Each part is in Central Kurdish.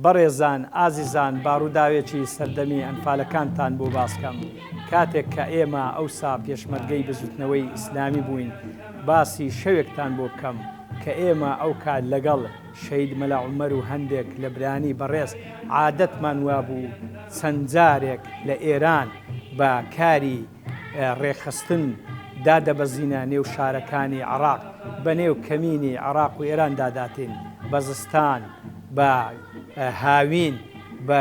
بەڕێزان ئازیزان با ڕووداوێکی سەردەمی ئەنفالەکانتان بۆ باس کەم کاتێک کە ئێمە ئەوسا پێشمەرگەی بزوتنەوەی ئیسلامی بووین باسی شەوێکتان بۆ بکەم کە ئێمە ئەوکات لەگەڵ شەهید مەلا عومەر و هەندێک لە برانی بەڕێز عادەتمان وابوو چەند جارێک لە ئێران بە کاری ڕێکخستن دادەبەزینە نێو شارەکانی عێراق بەنێو کەمینی عێراق و ئێران داداتین بە زستان بە هاوین بە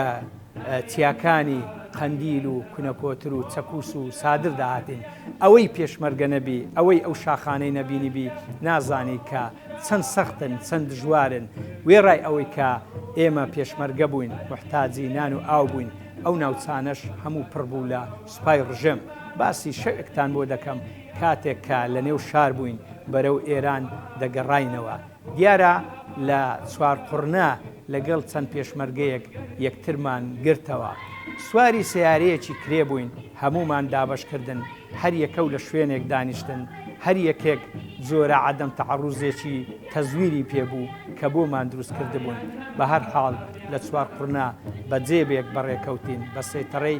چیاکانی قەندیل و کونەکۆتر و چەکوس و سادر داهاتین ئەوەی پێشمەرگە نەبی ئەوەی ئەو شاخانەی نەبینیبی نازانی کە چەند سەختن چەند دژوارن وێڕای ئەوەی کە ئێمە پێشمەرگە بووین محتاجی نان و ئاو بووین ئەو ناوچانەش هەموو پڕ بوو لە سوپای ڕژێم، باسی شەوێکتان بۆ دەکەم کاتێک کە لە نێو شار بووین بەرەو ئێران دەگەڕاینەوە، دیارە لە چوارقوڕنە لەگەڵ چەند پێشمەرگەیەک یەکترمان گرتەوە، سواری سەیارەیەکی کرێ بووین، هەموومان دابەش کردن، هەر یەکەو لە شوێنێک دانیشتن، هەر یەکێک جۆرە عەدەم تەعەڕوزێکی تەزویری پێ بوو کە بۆمان دروست کردبوون، بە هەر حاڵ لە چوارقوڕنە بە جێبێک بەڕێکەوتین بە سەیتەڕەی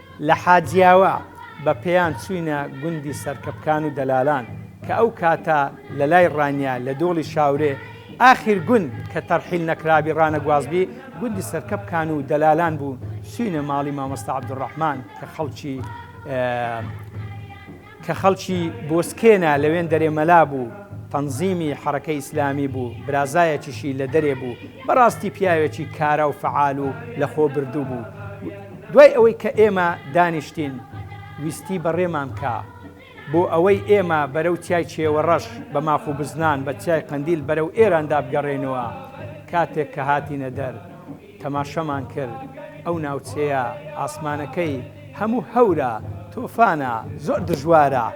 لە حاجیاوا بە پێیان چووینە گوندی سەرکەپکان و دەلالان کە ئەو کاتە لە لای ڕانیە لە دۆڵی شاورێ ئاخیر گوند کە تەرحیل نەکرابی ڕانەگوازبی گوندی سەرکەپکان و دەلالان بوو چووینە ماڵی مامۆستا عەبدولڕەحمان کە خەڵکی کە خەڵکی بۆسکێنا لەوێندەرێ مەلا بوو تەنزیمی حەڕەکەی ئیسلامی بوو برازایەکیشی لە دەرێ بوو بەڕاستی پیاوێکی کارا و فەعال و لە خۆ بردوو بوو دوای ئەوەی کە ئێمە دانیشتین ویستی بەڕێمان کا بۆ ئەوەی ئێمە بەرەو چیای چێوەڕەش بە ماخ و بزنان بە چیای قەندیل بەرەو ئێراندا بگەڕێینەوە کاتێک کە هاتینە دەر تەماشەمان کرد ئەو ناوچەیە ئاسمانەکەی هەموو هەورە تۆفانە زۆر دژوارە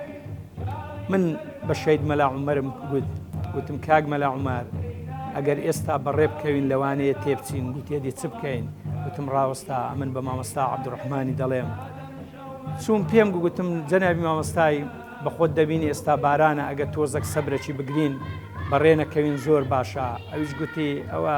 من بە شەید مەلا عومەرم گوت گوتم کاک مەلا عومەر ئەگەر ئێستا بەڕێ بکەوین لەوانەیە تێبچین گوتێدی چ بکەین وتم ڕاوەستا ئەمن بە مامەستا عبدڕحمانی دەڵێم چوون پێم گوتم جەنابی مامەستای بە خۆت دەبینی ئێستا بارانە ئەگە تۆزەک سەبرەکی بگرین بەڕێنەکەوین زۆر باشە ئەویش گوتی ئەوە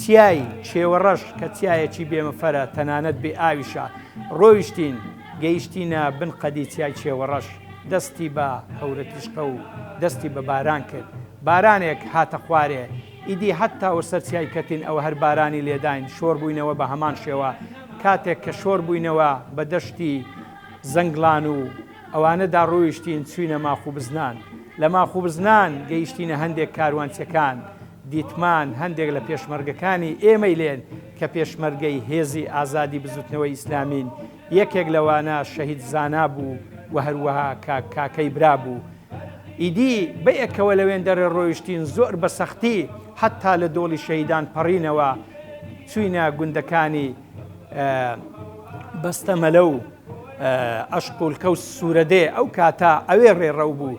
چیای چێوەڕەش کە چیایەکی بێ مفەرە تەنانەت بێ ئاویشە، ڕۆیشتین گەیشتینە بن قەدی چیای چێوەڕەش، دەستی بە هەورە تیشقە و دەستی بە باران کرد، بارانێک هاتە خوارێ، ئیدی هەتا وە سەر چیای کەتین ئەوە هەر بارانی لێداین، شۆڕ بووینەوە بە هەمان شێوە، کاتێک کە شۆڕ بووینەوە بە دەشتی زەنگڵان و ئەوانەدا ڕۆیشتین چووینە ماخوبزنان، لە ماخوبزنان گەیشتینە هەندێک کاروانچەکان، دیتمان هەندێک لە پێشمەرگەکانی ئێمەی لێن کە پێشمەرگەی هێزی ئازادی بزوتنەوەی ئیسلامین، یەکێک لەوانە شەهید زانا بوو و هەروەها کاک کاکەی برا بوو. ئیدی بەیەکەوە لەوێندەرە رۆیشتین زۆر بە سەختی حەتا لە دۆڵی شەهیدان پەڕینەوە چوینە گوندەکانی بەستەمەلە و ئەشقولکە و سورەدێ ئەو کاتە ئەوێ رێڕەو بوو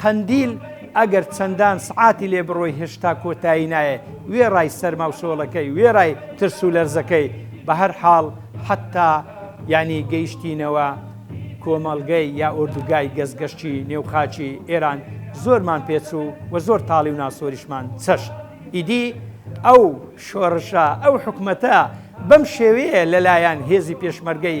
قەندیل ئەگەر چەندان سعاتی لێ بڕۆی هێشتا کۆتایی نایێ وێڕای سەرما و شۆڵەکەی وێڕای ترس و لەرزەکەی بە هەر حاڵ حتا ینی گەیشتینەوە کۆمەڵگەی یا ئۆردوگای گەزگەشتی نێو خاچی ئێران زۆرمان پێچوو و زۆر تاڵی و ناسۆریشمان چەشت ئیدی ئەو شۆڕشە ئەو حکومەتە بەم شێوەیە لەلایەن هێزی پێشمەرگەی